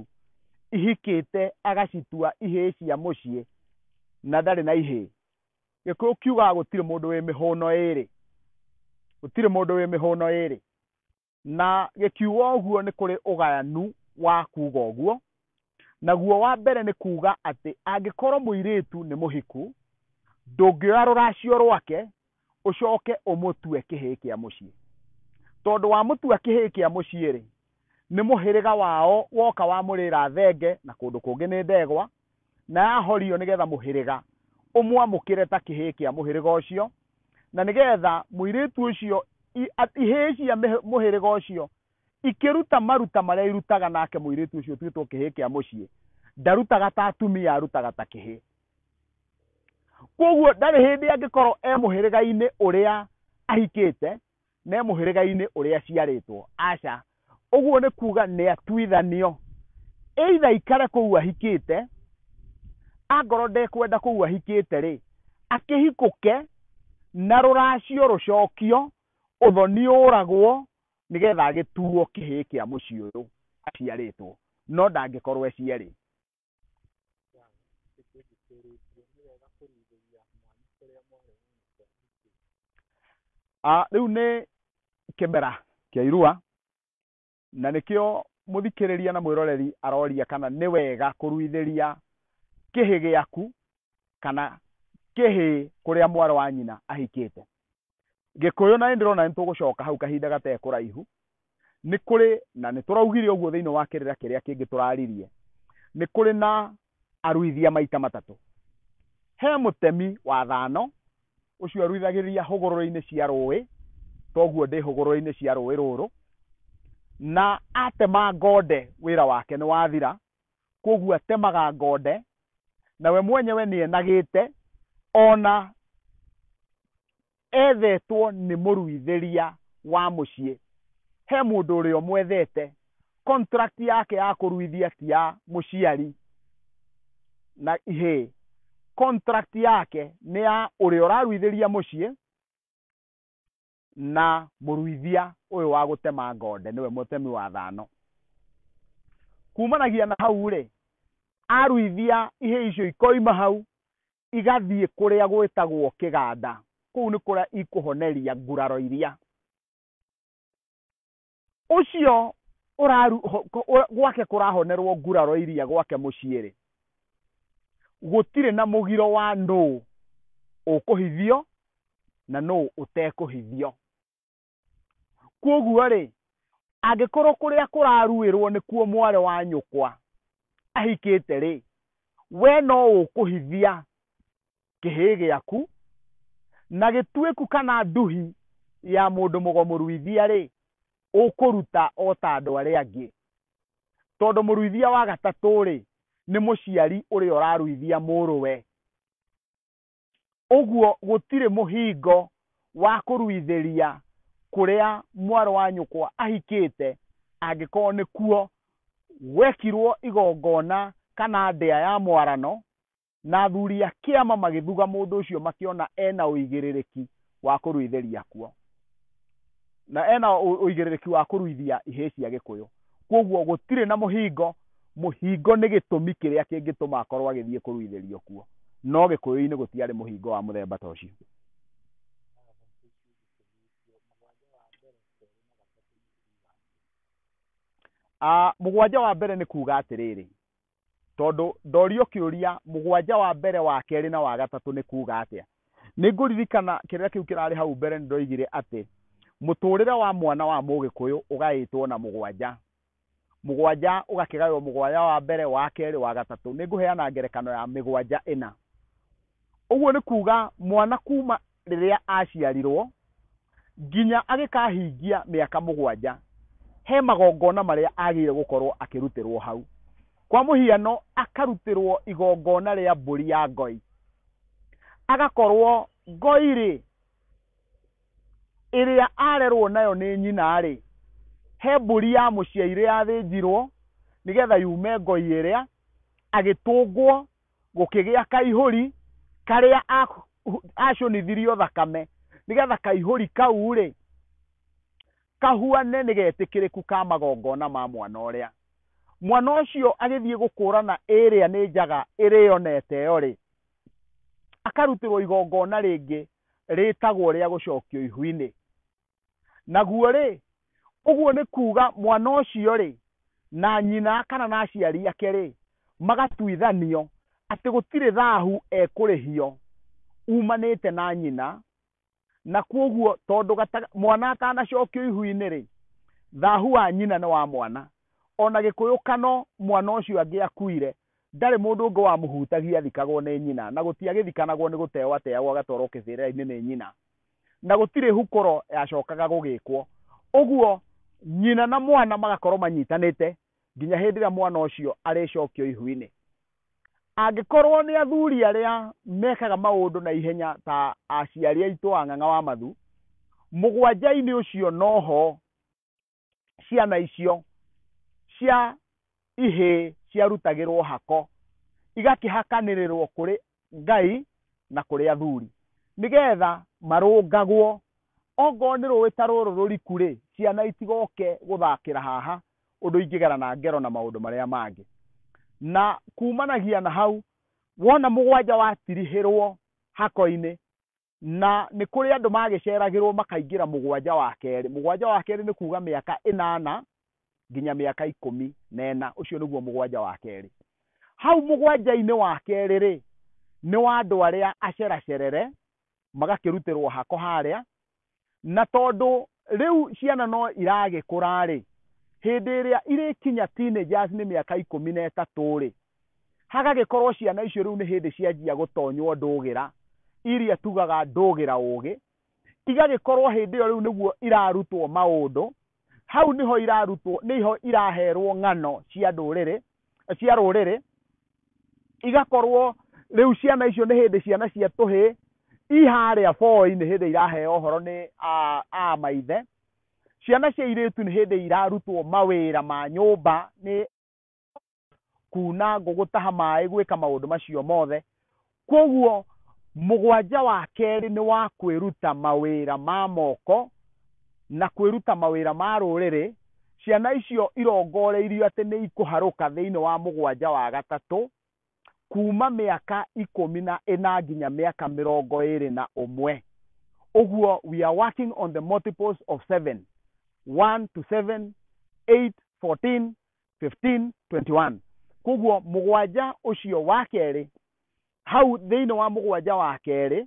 ihikĩte agacitua ihĩĩ cia mũciĩ na ndarĩ na ihĩĩ Gĩkũyũ kiugaga gũtirĩ mũndũ wĩ mĩhũno ĩrĩ, gũtirĩ mũndũ wĩ mĩhũno ĩrĩ. Na gĩkiuga ũguo nĩ kũrĩ ũgayanu wa kuga ũguo, naguo wa mbere nĩ kuga atĩ angĩkorwo mũirĩtu nĩ mũhiku, ndũngĩoya rũracio rwake ũcoke ũmũtue kĩhĩĩ kĩa mũciĩ. Tondũ wamũtua kĩhĩĩ kĩa mũciĩ-rĩ, nĩ mũhĩrĩga wao woka wamũrĩra thenge na kũndũ kũngĩ nĩ ndegwa, na yahorio nĩ getha mũhĩrĩga ũmwamũkĩre ta kĩhĩĩ kĩa mũhĩrĩga ũcio na nĩ getha mũirĩtu ũcio ihĩĩ cia mũhĩrĩga ũcio ikĩruta maruta marĩa irutaga nake mũirĩtu ũcio ũtuĩtwo kĩhĩĩ kĩa mũciĩ ndarutaga ta atumia arutaga ta kĩhĩĩ koguo ndarĩ hĩndĩ angĩkorwo e mũhĩrĩga-inĩ ũrĩa ahikĩte me mũhĩrĩga-inĩ ũrĩa aciarĩtwo aca ũguo nĩ kuga nĩ atuithanio eitha ikare kũu ahikĩte angorwo ndekwenda kũu ahikĩte rĩ akĩhikũke na rũracio rũcokio ũthoni ũragwo nĩgetha agĩtuo kĩhĩĩ kĩa mũciĩ ũyũ aciarĩtwo no ndangĩkorwo eciarĩ Ah, rĩu nĩ kĩmera kĩa irua na nĩkĩo mũthikĩrĩria na mwĩroreri aroria kana nĩ wega kũruithĩria kĩhĩ gĩaku kana kĩhĩ kũrĩa mwarĩ wa nyina ahikĩte gĩkũyũ na nĩndĩrona nĩ tũgũcoka hau kahinda gatee kũraihu nĩ kũrĩ na nĩ tũraugire ũguo thĩinĩ wa kĩrĩra kĩrĩa kĩngĩ tũraririe nĩ kũrĩ na aruithia maita matatũ he mũtemi wa thano ũcio aruithagĩria hũgũrũrũ-inĩ cia rũĩ toguo ndĩ hũgũrũrũ-inĩ cia rũĩ rũrũ na atema ngonde wĩra wake nĩ wathira kwoguo atemaga ngonde na we mwenyewe nĩ enagĩte ona ethetwo nĩ mũruithĩria wa mũciĩ he mũndũ ũrĩa ũmwethete contract yake ya kũruithia ti ya mũciari na ihĩ contract yake nĩ ya ũrĩa ũraruithĩria mũciĩ na mũruithia ũyũ wa gũtema ngonde nĩwe mũtemi wa thano kumanagia na hau rĩ aruithia ihĩ icio ikoima hau igathiĩ kũrĩa gwĩtagwo kĩganda kũu nĩ kũrĩa ikũhoneria nguraro iria ũcio ũraru ho- ko- ũ- gwake kũrahonerwo nguraro iria gwake mũciĩ-rĩ gũtirĩ na mũgiro wa nũũ ũkũhithio na nũũ ũtekũhithio kwoguo-rĩ angĩkorwo kũrĩa kũraruĩrwo nĩkuo mwarĩ wa nyũkwa ahikĩte-rĩ we no ũkũhithia kĩhĩĩ gĩaku, na gĩtuĩku kana nduhi ya mũndũ mũgomu ruithia-rĩ, ũkũruta o ta andũ arĩa angĩ. Tondũ mũruithia wa gatatũ-rĩ, nĩ mũciari ũrĩa ũraruithia mũrũwe. Ũguo gũtirĩ mũhingo wa kũruithĩria kũrĩa mwarĩ wa nyũkwa ahikĩte, angĩkorwo nĩkuo gwekirwo igongona kana ndĩa ya mwarano, na athuri a kĩama magĩthuga mũndũ ũcio makĩona ena ũigĩrĩrĩki wa kũrwĩtheria kuo na ena ũ- ũigĩrĩrĩki wa kũruithia ihĩĩ cia gĩkũyũ kwoguo gũtirĩ na mũhingo mũhingo nĩ gĩtũmi kĩrĩa kĩngĩtũma akorwo agĩthiĩ kũruithĩrio kuo no gĩkũyũ-inĩ gũtiarĩ mũhingo wa mũthemba ta ũcio Ah, mũgwanja wa mbere nĩ kuuga atĩrĩrĩ tondũ ndorio kĩũria mũgwanja wa mbere wa kerĩ na wa gatatũ nĩ kuuga atĩa nĩ ngũririkana kĩrĩa kĩu kĩrarĩ hau mbere nĩ ndoigire atĩ mũtũũrĩre wa mwana wa mũgĩkũyũ ũgaĩtwo na mũgwanja mũgwanja ũgakĩgaĩrwo mũgwanja wa mbere wa kerĩ wa gatatũ nĩ ngũheana ngerekano ya mĩgwanja ĩna ũguo nĩ kuuga mwana kuma rĩrĩa aaciarirũo nginya agĩkahingia mĩaka mũgwanja, he magongona marĩa aagĩire gũkorũo akĩrutĩrũo hau. Kwa mũhiano, akarutĩrũo igongona rĩa mbũri ya ngoi. Agakorũo ngoi-rĩ, ĩrĩa arerũo nayo nĩ nyina-rĩ, he mbũri ya mũciaire yathĩnjirũo nĩgetha yume ngoi ĩrĩa, agĩtũngwo gũkĩgĩa kaihũri karĩa acũnithirio thakame nĩgetha kaihũri kau rĩ kahuane nĩ getĩkĩrĩku ka magongona ma mwana ũrĩa mwana ũcio agĩthiĩ gũkũrana ĩrĩa nĩ njaga ĩrĩonete ĩyo rĩ akarutĩrwo igongona rĩngĩ rĩtagwo rĩa gũcokio ihu-inĩ Naguo-rĩ, ũguo nĩ kuuga mwana ũcio-rĩ, na nyina kana na aciari ake-rĩ, magatuithanio atĩ gũtirĩ thahu ekũrĩhio uumanĩte na nyina, na kwoguo tondũ mwana atanacokio ihu-inĩ-rĩ, thahu wa nyina nĩ wa mwana. O na Gĩkũyũkano mwana ũcio angĩakuire, ndarĩ mũndũ ũngĩ wamũhutagia athikagwo nĩ nyina, na gũtiagĩthikanagwo nĩ gũteeo ateagwo agatwarwo kĩbĩrĩra-inĩ nĩ nyina. na gũtirĩ hukoro yacokaga gũgĩkwo ũguo nyina na mwana magakorwo manyitanĩte nginya hĩndĩ ĩrĩa mwana ũcio arĩcokio ihu-inĩ angĩkorwo nĩ athuri arĩa mekaga maũndũ na ihenya ta aciari aitũ a ng'ang'a wa mathu mũgwanja-inĩ ũcio noho ciana icio cia ihĩĩ ciarutagĩrwo hako igakĩhakanĩrĩrwo kũrĩ ngai na kũrĩ athuri nĩgetha marũngagwo ongorwo nĩ rũĩ ta rũrũ rũriku rĩ ciana itigoke gũthakĩra haha ũndũ ingĩgerana ngero na maũndũ marĩa mangĩ na kumanagia na hau wona mũgwanja watirihĩrwo hako-inĩ na nĩ kũrĩ andũ magĩceragĩrwo makaingĩra mũgwanja wa kerĩ mũgwanja wa kerĩ nĩ kuuga mĩaka ĩnana nginya mĩaka ikũmi na ĩna ũcio nĩguo mũgwanja wa kerĩ hau mũgwanja-inĩ wa kerĩ rĩ nĩ wa andũ arĩa aceracerere magakĩrutĩrwo hako harĩa Na tondũ rĩu ciana no iragĩkũra-rĩ, hĩndĩ ĩrĩa irĩkinya teenagers nĩ mĩaka ikũmi na ĩtatũ-rĩ, hagagĩkorwo ciana icio rĩu nĩ hĩndĩ cianjia gũtonywo ndũgĩra, iria tugaga ndũgĩra ũgĩ, igagĩkorwo hĩndĩ ĩyo rĩu nĩguo irarutwo maũndũ hau niho irarutwo niho iraherwo ng'ano cia ndũrĩrĩ cia rũrĩrĩ igakorwo rĩu ciana icio nĩ hĩndĩ ciana cia tũhĩ iharĩa boĩ-inĩ hĩndĩ iraheo ũhoro nĩ a- a maithe ciana cia irĩtu nĩ hĩndĩ irarutwo mawĩra ma nyũmba nĩ kuna ngũ gũtaha maĩ gwĩka maũndũ macio mothe koguo mũgwanja wa kerĩ nĩ wa kwĩruta mawĩra ma moko na kwĩruta mawĩra ma rũrĩrĩ ciana icio irongoreirio atĩ nĩ ikũharũka thĩinĩ wa mũgwanja wa gatatũ kuma mĩaka ikũmi na ĩna nginya mĩaka mĩrongo ĩrĩ na ũmwe ũguo we are working on the multiples of seven one to seven eight fourteen 15:21 koguo mũgwanja ũcio wa kerĩ hau thĩinĩ wa mũgwanja wa kerĩ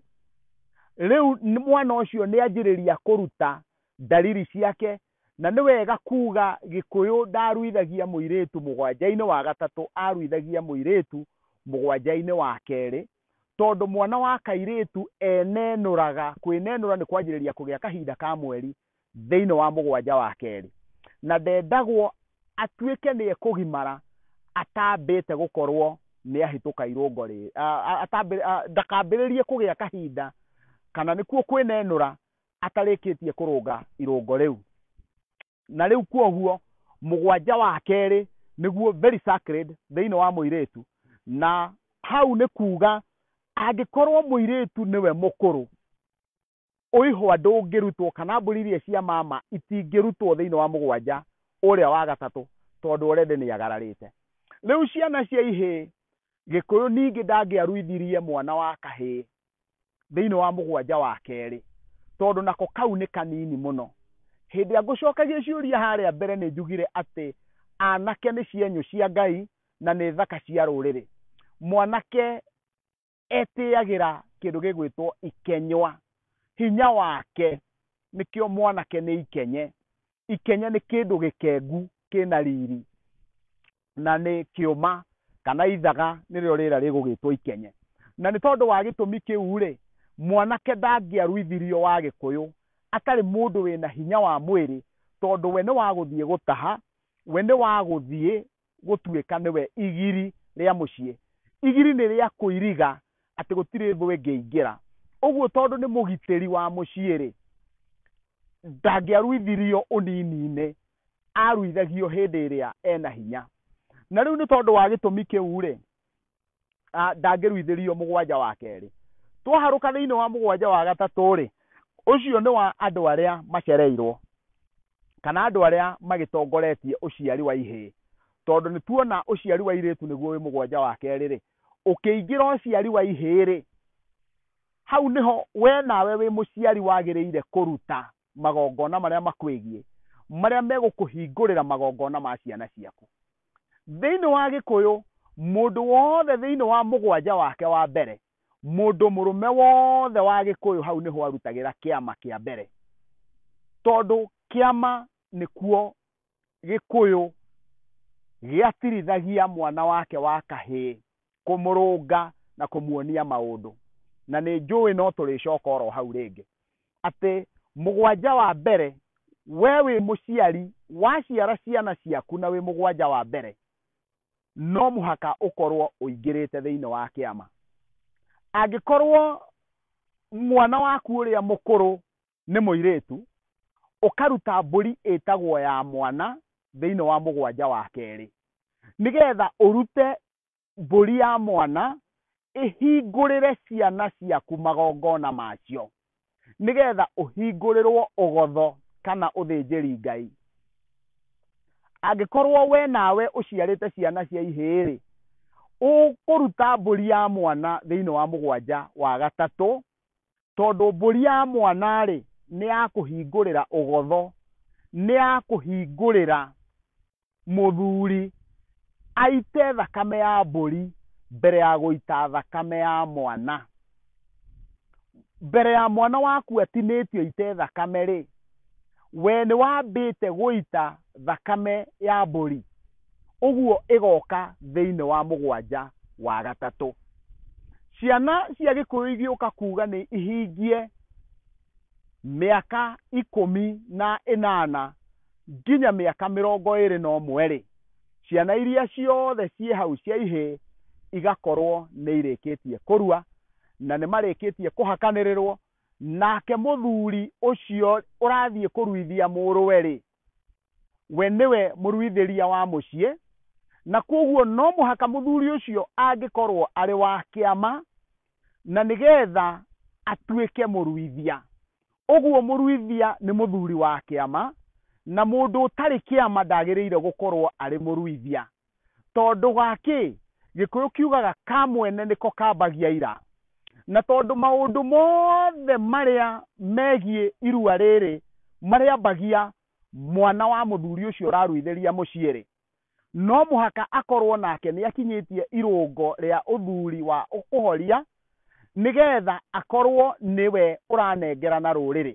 rĩu nĩ- mwana ũcio nĩ anjĩrĩria kũruta ndariri ciake na nĩ wega kuga gĩkũyũ ndaruithagia mũirĩtu mũgwanja-inĩ wa gatatũ aruithagia mũirĩtu mũgwanja-inĩ wa kerĩ tondũ mwana wa kairĩtu enenũraga kwĩnenũra nĩ kwanjĩrĩria kũgĩa kahinda ka mweri thĩinĩ wa mũgwanja wa kerĩ, na ndendagwo atuĩke nĩ ekũgimara atambĩte gũkorwo nĩ ahĩtũka irũngo rĩrĩ, a- a- atambĩ- a- ndakambĩrĩrie kũgĩa kahinda kana nĩkuo kwĩnenũra atarĩkĩtie kũrũnga irũngo rĩu. Na rĩu kwoguo mũgwanja wa kerĩ nĩguo very sacred thĩinĩ wa mũirĩtu, na hau nĩ kuuga angĩkorwo mũirĩtu nĩwe mũkũrũ ũihwa ndũngĩrutwo kana mbũri iria cia mama itingĩrutwo thĩinĩ wa mũgwanja ũrĩa wa gatatũ tondũ orende nĩ agararĩte rĩu ciana cia ihĩĩ gĩkũyũ ningĩ ndangĩaruithirie mwana wa kahĩĩ thĩinĩ wa mũgwanja wa kerĩ tondũ nako kau nĩ kanini mũno hĩndĩ ya ngũcokagia ciũria harĩa mbere nĩ njugire atĩ anake nĩ cienyũ cia ngai na nĩ thaka cia rũrĩrĩ mwanake etĩagĩra kĩndũ gĩgwĩtwo ikenywa hinya wake nĩkĩo mwanake nĩ ikenye ikenye nĩ kĩndũ gĩkengu kĩna riri na nĩ kĩũma kana ithaga nĩrĩo rĩra rĩgũgĩtwo ikenye na nĩ tondũ wa gĩtũmi kĩu rĩ mwanake ndangĩaruithirio wa gĩkũyũ atarĩ mũndũ wĩna hinya wa mwĩrĩ tondũ we nĩ wagũthiĩ gũtaha we nĩ wagũthiĩ gũtuĩka nĩwe igiri rĩa mũciĩ. Igiri nĩ rĩa kũiriga atĩ gũtirĩ thũ ĩngĩingĩra. Ũguo tondũ nĩ mũgitĩri wa mũciĩ-rĩ, ndangĩaruithirio ũnini-inĩ, aruithagio hĩndĩ ĩrĩa ena hinya. Na rĩu nĩ tondũ wa gĩtũmi kĩu-rĩ, ah, ndangĩruithĩrio mũgwanja wa kerĩ twaharũka thĩinĩ wa mũgwanja wa gatatũ rĩ ũcio nĩ wa andũ arĩa macereirwo kana andũ arĩa magĩtongoretie ũciari wa ihĩĩ tondũ nĩ tuona ũciari wa irĩtu nĩguo wĩ mũgwanja wa kerĩ rĩ ũkĩingĩra ũciari wa ihĩĩ rĩ hau nĩho we nawe wĩ mũciari wagĩrĩire kũruta magongona marĩa makwĩgiĩ marĩa megũkũhingũrĩra magongona ma ciana ciaku thĩinĩ wa gĩkũyũ mũndũ wothe thĩinĩ wa mũgwanja wake wa mbere mũndũ mũrũme wothe wa gĩkũyũ hau nĩho arutagĩra kĩama kĩa mbere tondũ kĩama nĩkuo gĩkũyũ gĩatirithagia mwana wake wa kahĩĩ kũmũrũnga na kũmuonia maũndũ na nĩ njũĩ no tũrĩcoka oro hau rĩngĩ atĩ mũgwanja wa mbere we wĩ mũciari waciara ciana ciaku na wĩ mũgwanja wa mbere no mũhaka ũkorwo ũingĩrĩte thĩinĩ wa kĩama angĩkorwo mwana waku ũrĩa mũkũrũ nĩ mũirĩtu, ũkaruta mbũri ĩtagwo ya mwana thĩinĩ wa mũgwanja wa kerĩ, nĩgetha ũrute mbũri ya mwana ĩhingũrĩre ciana ciaku magongona macio, nĩgetha ũhingũrĩrwo ũgotho kana ũthĩnjĩri Ngai. Angĩkorwo we nawe ũciarĩte ciana cia ihĩĩ-rĩ, ũkũruta mbũri ya mwana thĩinĩ wa mũgwanja wa gatatũ, Tondũ mbũri ya mwana-rĩ, nĩ ya kũhingũrĩra ũgotho, nĩ ya kũhingũrĩra mũthuri aite thakame ya mbũri mbere ya gũita thakame ya mwana. Mbere ya mwana waku atinĩtio aite thakame-rĩ, we nĩ wambĩte gũita thakame ya mbũri? ũguo ĩgoka thĩinĩ wa mũgwanja wa gatatũ ciana cia gĩkũyũ igĩũka kuga nĩ ihingie mĩaka ikũmi na ĩnana nginya mĩaka mĩrongo ĩrĩ na ũmwe rĩ ciana iria ciothe ciĩ hau cia ihĩ igakorwo nĩ irĩkĩtie kũrua na nĩ marĩkĩtie kũhakanĩrĩrwo nake mũthuri ũcio ũrathiĩ kũruithia mũrũwe rĩ we nĩwe mũruithĩria wa mũciĩ na kwoguo no mũhaka mũthuri ũcio angĩkorwo arĩ wa kĩama na nĩgetha atuĩke mũruithia ũguo mũruithia nĩ mũthuri wa kĩama na mũndũ ũtarĩ kĩama ndagĩrĩire gũkorwo arĩ mũruithia Tondũ wa kĩ? Gĩkũyũ kiugaga ka mwene nĩko kambagia ira. Na tondũ maũndũ mothe marĩa megiĩ irua rĩrĩ marĩambagia mwana wa mũthuri ũcio ũraruithĩria mũciĩ-rĩ, no mũhaka akorwo nake nĩ akinyĩtie irũngo rĩa ũthuri wa ũkũhoria nĩ getha akorwo nĩwe ũranengerana rũrĩrĩ.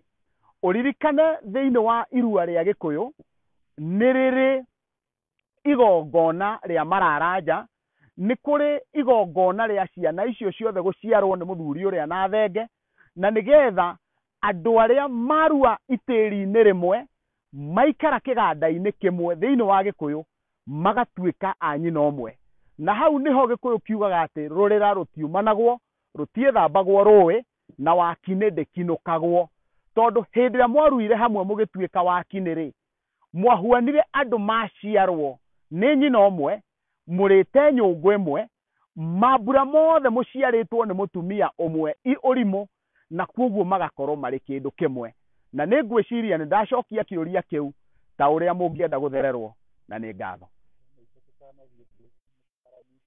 Ũririkane thĩinĩ wa irua rĩa Gĩkũyũ nĩ rĩrĩ igongona rĩa mararanja nĩ kũrĩ igongona rĩa ciana icio ciothe gũciarwo nĩ mũthuri ũrĩa na thenge na nĩgetha andũ arĩa marua itĩri-inĩ rĩmwe maikara kĩganda-inĩ kĩmwe thĩinĩ wa gĩkũyũ magatuĩka a nyina ũmwe na hau nĩho gĩkũyũ kiugaga atĩ rũrĩra rũtiumanagwo rũtiĩthambagwo rũĩ na wakinĩ ndĩkinũkagwo tondũ hĩndĩ ĩrĩa mwaruire hamwe mũgĩtuĩka wakinĩ rĩ mwahuanire andũ maciarwo nĩ nyina ũmwe, mũrĩte nyũngũ ĩmwe, mambura mothe mũciarĩtwo nĩ mũtumia ũmwe i ũrimũ, na kwoguo magakorũo marĩ kĩndũ kĩmwe. Na nĩ ngwĩciria nĩ ndacokia kĩũria kĩu ta ũrĩa mũngĩenda gũthererũo na nĩ ngatho.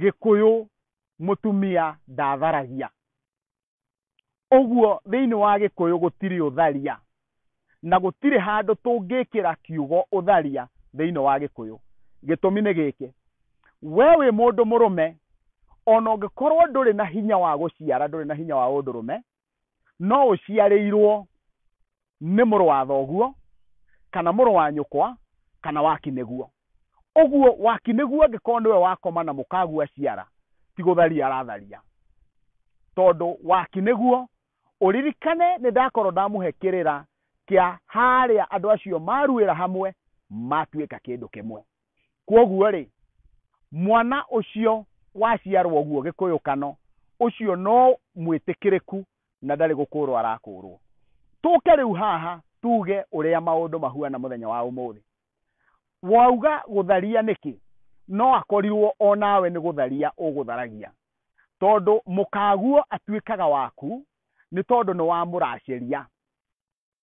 Gĩkũyũ mũtumia ndatharagia. Ũguo thĩinĩ wa Gĩkũyũ gũtirĩ ũtharia, na gũtirĩ handũ tũngĩkĩra kiugo ũtharia thĩinĩ wa Gĩkũyũ. Gĩtũmi nĩ gĩkĩ, we wĩ mũndũ mũrũme, ona ũngĩkorwo ndũrĩ na hinya wa gũciara, ndũrĩ na hinya wa ũndũrũme, no ũciarĩirwo nĩ mũrũ wa thoguo kana mũrũ wa nyũkwa kana waki nĩguo ũguo waki nĩguo angĩkorwo nĩwe wakoma na mũkaguo aciara ti gũtharia aratharia tondũ waki nĩguo ũririkane nĩ ndakorwo ndamũhe kĩrĩra kĩa harĩa andũ acio maruĩra hamwe matuĩka kĩndũ kĩmwe kwoguo-rĩ, mwana ũcio waciarwo ũguo gĩkũyũkano, ũcio no mwĩtĩkĩrĩku na ndarĩ gũkũũrwo arakũũrwo. Tũke rĩu haha tuge ũrĩa maũndũ mahuana mũthenya wa ũmũthĩ. Wauga gũtharia nĩkĩ? No akorirwo o nawe nĩ gũtharia ũgũtharagia, tondũ mũkaguo atuĩkaga waku nĩ tondũ nĩwamũraceria.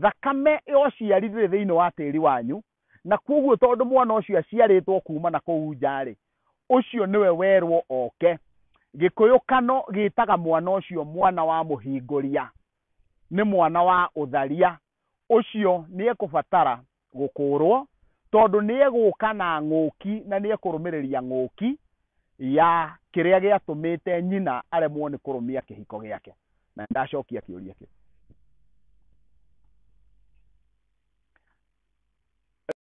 thakame ya ũciari ndĩrĩ thĩinĩ wa tĩri wanyu, na kwoguo tondũ mwana ũcio aciarĩtwo kuuma na kũu nja-rĩ, ũcio nĩwe werwo oke. Gĩkũyũkano gĩtaga mwana ũcio mwana wa mũhingũria, nĩ mwana wa ũtharia. Ũcio nĩekũbatara gũkũũrwo, tondũ nĩegũũka na ng'ũki na nĩekũrũmĩrĩria ng'ũki ya kĩrĩa gĩatũmĩte nyina aremwo nĩ kũrũmia kĩhiko gĩake. Na nĩndacokia kĩũria kĩu.